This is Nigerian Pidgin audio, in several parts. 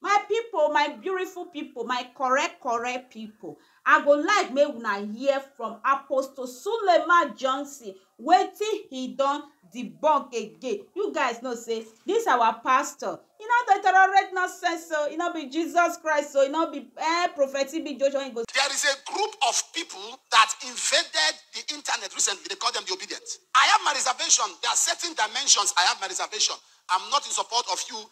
My pipo, my beautiful pipo, my correct correct pipo, I go like make una hear from Apostle Suleiman Johnson wetin he don debunk again. You guys know say this our pastor, e no dey tolerate nonsense o, e no be Jesus Christ o, e no be eh Prophet TB Joshua, e go There is a group of people that invaded the internet recently, they call them the obedient. I have my reservation, there are certain dimensions I have my reservation. I'm not in support of you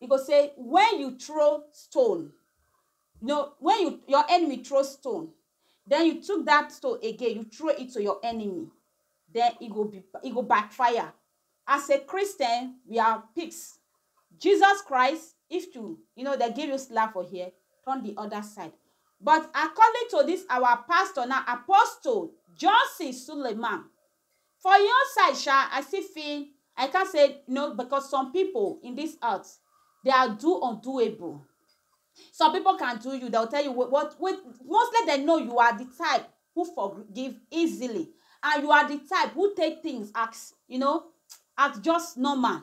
e go say wen you throw stone no wen you your enemy throw stone den you took dat stone again you throw it to your enemy den e go be e go backfire as a Christian we are pigs Jesus Christ if to you know dem give you slap for here turn di oda side but according to dis our pastor now apostle Johnson Suleiman For hin own side sha, I still feel I can't say no because some pipu in this earth they are do undoable some pipu can do you dem go tell you what what mostly dem know you are the type who forgive easily and you are the type who take things as you know as just normal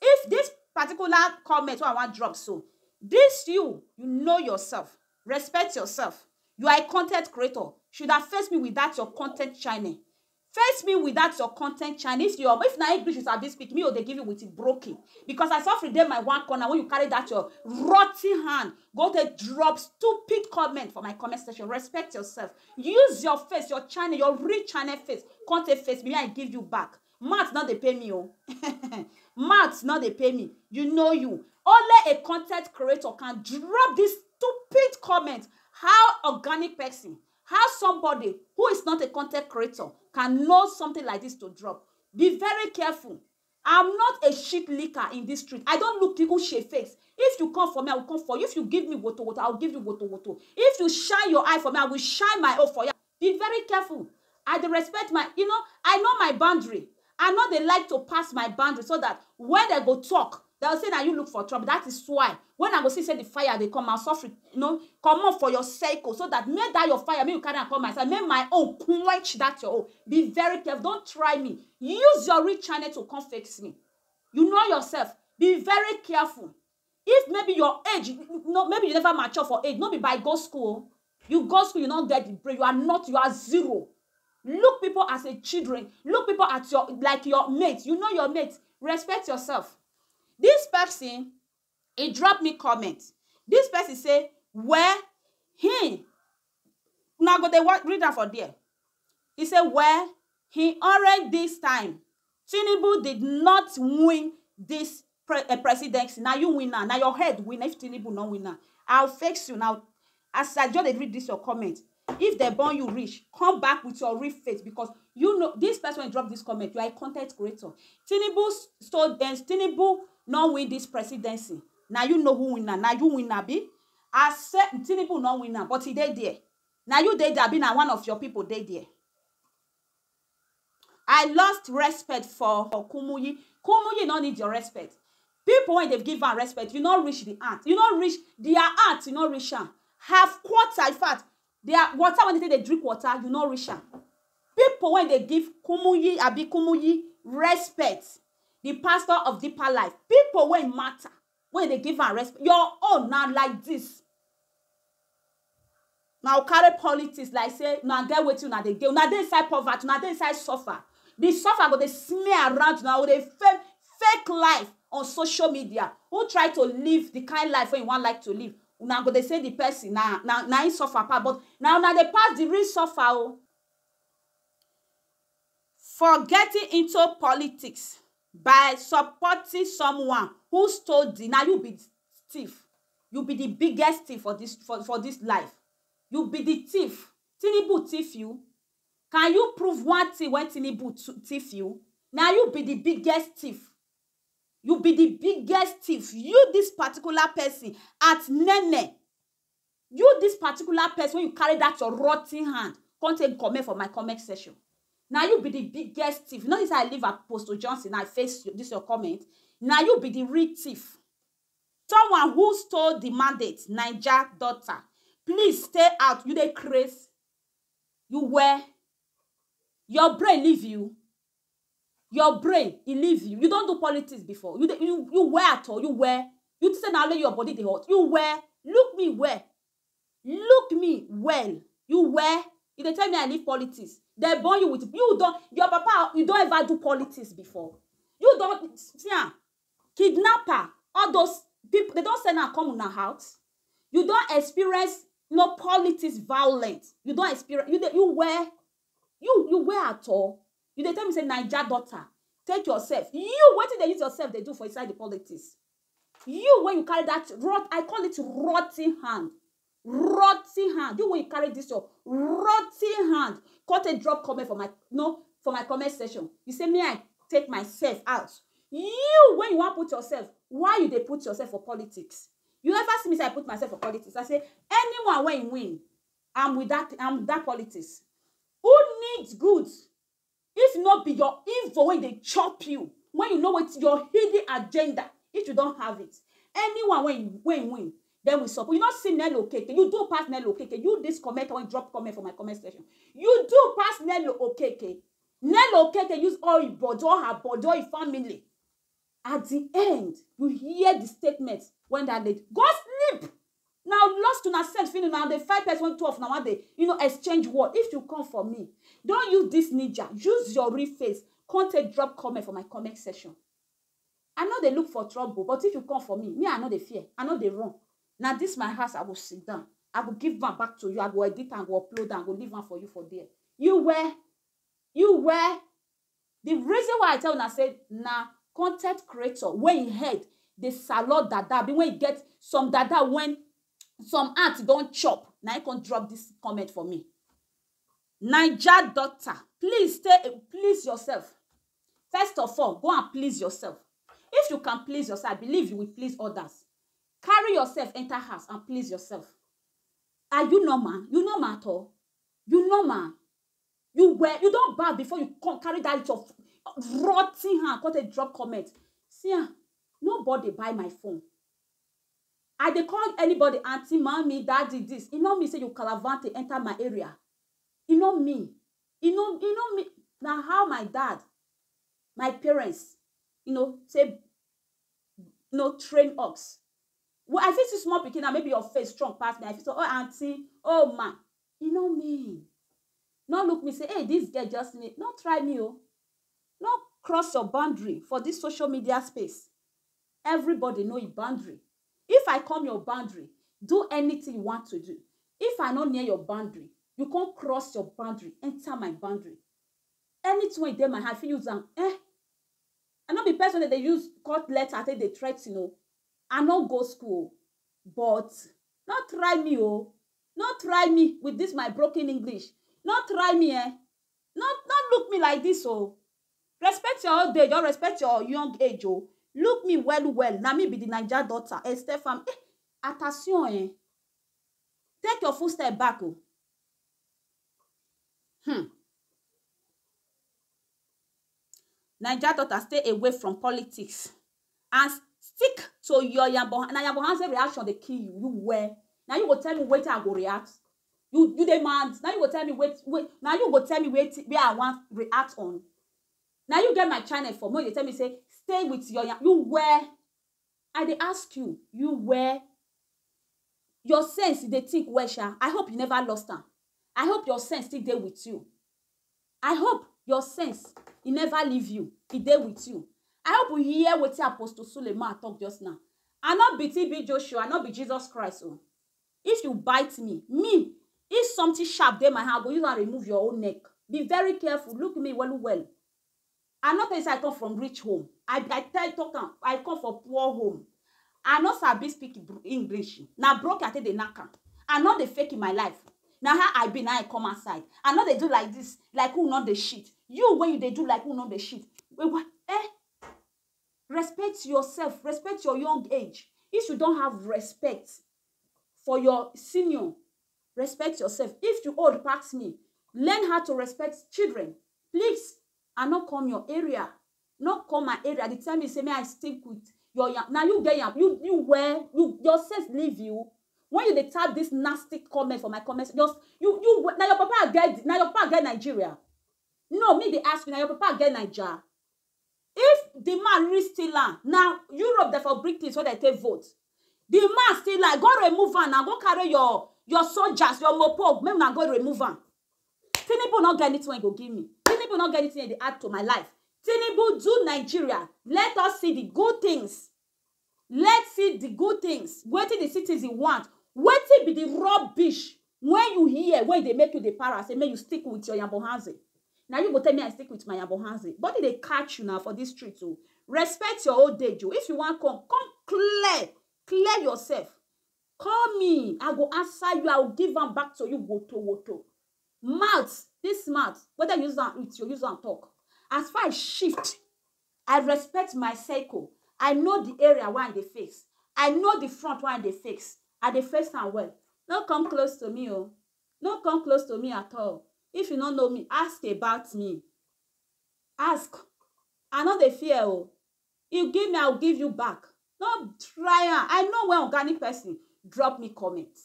If this particular comment wey I wan drop so this you, you know yourself, respect yourself, you are a content creator should have face me with that your content channel face me with that your content channel if your if na English you sabi speak me o dey give you with broken because I suffer dey my one corner when you carry that your rotten hand go take drop stupid comment for my comment section respect yourself use your face your channel your real channel face come take face me I give you back Math no dey pay me o math no dey pay me you know you only a content creator can drop this stupid comment how organic person how somebody who is not a content creator can know something like this to drop be very careful I'm not a shit licker in this street I don't look people shit face if you come for me I will come for you if you give me woto woto I will give you woto woto if you shine your eye for me I will shine my own for you Be very careful, I dey respect my you know, I know my boundary, I no dey like to pass my boundary so that when dem go talk, dem go say na you look for trouble that is why when I go see say the fire dey come, I will sofri you know comot for your circle so that make that your fire make you carry am come my side, make my own quench that your own, be very careful, don't try me, use your real channel to come face me, you know yourself, be very careful, If maybe your age no maybe you never mature for age no be by go school o you go school you no get the brain you are not you are zero look people as a children look people at your like your mate you know your mate respect yourself this person e drop me comment this person say well him Una go dey read am for there. He say well he already this time Tinubu did not win this presidency na you win am na your head win am if Tinubu no win am I will face you now as I just dey read this your comment if dem born you reach come back with your real face because you know this person wey drop this comment you are a con ten t creator Tinubu stole Tinubu no win this presidency na you know who win am na you win am abi As se Tinubu no win am but e dey there na you dey there abi na one of your people dey there? I lost respect for Kumuyi, Kumuyi no need your respect people wey dey give am respect you no reach the ant, you no reach their ant you no reach am half quarter in fact their water wey dey take dey drink water you no reach am people wey dey give Kumuyi abi Kumuyi respect the pastor of deeper life people wey matter wey dey give am respect your own na like this na u carry politics like say una get wetin una dey gain una dey inside poverty una dey inside suffer the suffer go dey smear around una go dey fake fake life on social media who try to live the kind life wey you wan like to live una go dey say the person na na na him suffer pass but na una dey pass the real suffer o. For getting into politics by supporting someone who stole the na you be thief you be the biggest thief for this for for this life you be the thief Tinubu thief you can you prove one thing wey Tinubu thief you na you be the biggest thief you be the biggest thief you this particular person at nene You this particular person wey you carry that your rotten hand come take comment for my comment section. Na you be the biggest thief. You know this I leave Apostle Johnson now I face this your comment. Na you be the real thief. Someone who stole the mandate, Niger daughter. Please stay out. You dey craze. You wear. Your brain leave you. your brain e leave you you don do politics before you dey you you wear at all you wear you think say na only your body dey hot you wear look me well look me well you wear you dey tell me i leave politics dem born you with you don your papa you don ever do politics before you don see am kidnapper all those people dem don send am come una house you don experience no politics violent you don experience you dey you wear You you wear at all? You dey tell me say Naija daughter take yourself you wetin dey use yourself dey do for inside the politics you wey you carry that rot I call it rotten hand rotten hand you wey you carry this your rotten hand come take drop comment for my no for my comment section you say me I take myself out you when you wan put yourself why you dey put yourself for politics you ever see me say I put myself for politics I say anyone wey win I'm with that I'm with that politics. Who needs good if not be your info when they chop you when you know what your hidden agenda if you don't have it anyone when when win then we support you not see Nello Okeke you do pass Nello Okeke you this comment when drop comment for my comment section you do pass Nello Okeke Nello Okeke use all his body all her body all his family At di end, you hear di statement wen dat lady. Go sleep! Na lust una set finish, una dey fight pesin wey two of una wan dey you know exchange word. If you come for me, don use dis ninja, use your real face come take drop comment for my comment section. I no dey look for trouble but if you come for me, me I no dey fear, I no dey run. Na dis my house I go sit down, I go give am back to you, I go edit am, I go upload am, I go leave am for you for there. You where? You where? The reason why I tell una say na content creator wey him head dey salor dada abi wey e get some dada wen some ant don chop na him come drop this comment for me. Naija daughter please stay a please yourself first of all go and please yourself if you can please yourself I believe you will please others carry yourself enter house and please yourself are you normal you normal at all you normal You were you don baff before you come carry that your rotten hand come take drop comment. See am, nobody buy my phone. I dey call anybody aunty, mummy, daddy this, e no mean say you calavante enter my area. E no mean. E no e no mean. Na how my dad, my parents, you know, take you know train us. I fit see small pikin now, maybe your face strong pass me, I fit say, oh aunty, oh ma, E no mean. No look me say, hey, this girl just need. No try me, oh. No cross your boundary for this social media space. Everybody know your boundary. If I come your boundary, do anything you want to do. If I not near your boundary, you can't cross your boundary, enter my boundary. Anything wey dey my hand, I fit use am. Eh? I no be person that they use cut letter, take they threaten, oh. I no go school, but not try me, oh. No try me with this my broken English No try me eh No no look me like this oh Respect your old age or respect your young age oh Look me well well na me be the Naija daughter Estefan eh Attention eh Take your full step back oh Hmm Naija daughter stay away from politics. As stick to your yambo na yambo hanze reaction dey kill you you weh na you go tell me wetin i go react you you dey mad na you go tell me wait wait na you go tell me wetin wey i wan react on na you get my channel for make you dey tell me say stay with your yam you weh i dey ask you you weh your sense you dey think well sha i hope you never lost am i hope your sense still dey with you I hope your sense e never leave you, e dey with you. I hope u hear wetin Apostle Suleiman talk just now. I no be TB Joshua, I no be Jesus Christ o. If you bite me, me, if something sharp dey my hand, I go use am remove your own neck. Be very careful, look me well well. I no tell you say I come from rich home, I I tell talk am I come for poor home. I no sabi speak English, na broke I take dey knack am. I no dey fake my life, na how I be na I come outside. I no dey do like this, like who no dey shit. You wey you dey do like who no dey shit, eh, respect yourself, respect your young age. If you don have respect for your senior, Respect yourself if you old pass me learn how to respect children please I no come your area no come my area dey tell me say may I stick with your yam na you get yam you you where you your sense leave you when you dey tap this nasty comment for my comment just you you na your papa get na your papa get Nigeria no me dey ask you na your papa get Naija If di man really steal am na Europe dem for bring things wey dem take vote. Di man steal am go remove am na go carry your your soldiers your mopo make una go remove am. Tinubu no get anything wey he go give me, Tinubu no get anything wey he dey add to my life, Tinubu do Nigeria let us see di good things Let's see di good things, wetin di citizen want, wetin be di rubbish wen you hear wey dey make you dey para say make you stick with your yambohanze na you go tell me I stick with my yambohanze body dey catch you na for dis street o respect your old age o if you wan come, come clear, clear yourself call me I go answer you I will give am back to you wotowoto mouth dis mouth whether you use am eat you use am talk as far as shift I respect my circle, I know the area wey I dey face, I know the front wey I dey face, I dey face am well. No come close to me oh, no come close to me at all, if you no know me, ask about me, ask, I no dey fear oh, you give me I will give you back, No try am. I know when organic person drop me comment.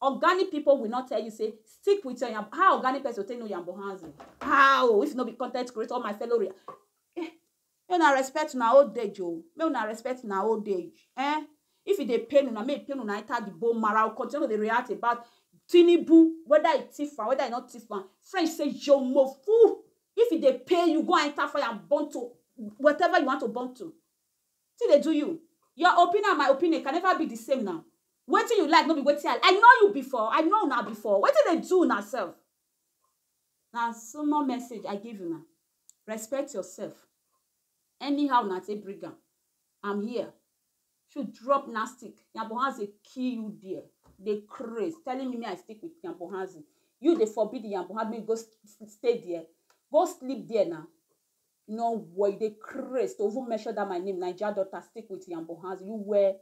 Organic people will not tell you, say, stick with your yam. How organic person will take no yambo hands? How? If no be content creator, all my fellow. Re- eh, may una respect una old age, oh. May una respect una old age. Eh? If it dey pain una, make pain una enter the bone marrow. Continue to react about Tinubu, whether it thief am, whether it not thief am. French say, yo, mo fool. If it dey pay you, go and enter fire and burn to whatever you want to burn to. Wetin dey do you? Your opinion and my opinion can never be the same now. Wetin you like no be wetin I I know you before, I know una before. Wetin dey do una self? Na small message I give una. Respect yourself. Anyhow una take bring am, I'm here. Shey you drop nastic, yambohazi kill you there. You dey craze telling me make I stick with yambohazi. You dey forbid yambohazi make you go stay there? Go sleep there na. No wor you dey craze to even mention that my name naija daughter stick with yambo hands you were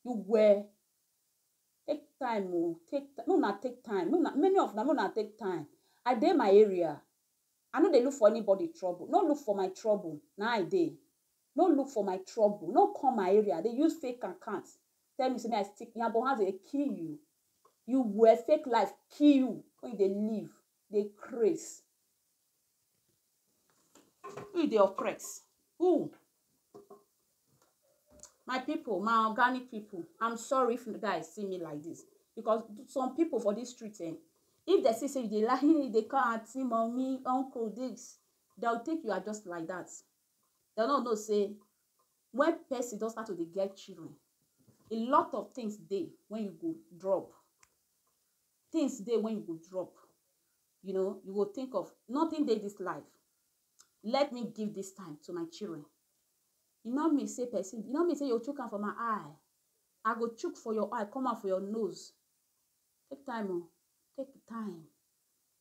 you were take time o take make una take time make una many of una make una take time I dey my area I no dey look for anybody trouble no look for my trouble na I dey no look for my trouble no come my area dey use fake account tell me say me I stick yambo hands dey kill you you were fake life kill you when you dey live dey craze who dey oppress who my people my organic people i'm sorry if you guys see me like this because some people for this street eh if they see say you dey lie you dey call aunty mommy uncle this they'll think you are just like that they no know say when person don start to dey get children a lot of things dey when you go drop things dey when you go drop you know you go think of nothing dey this life let me give this time to my children e no mean say person e no mean say you chook am for my eye i go chook for your eye come out for your nose take time o oh. take your time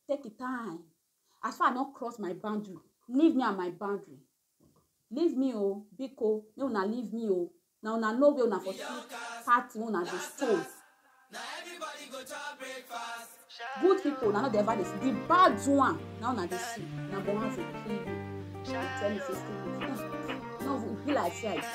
take your time as far i don cross my boundary leave me and my boundary Leave me o, biko, make una leave me o, na una know where una for see party wey una dey stole. Good people una no dey ever dey see, the bad one na una dey see, na the ones wey kill you, dey tell me say stay with me. No, e be like say I.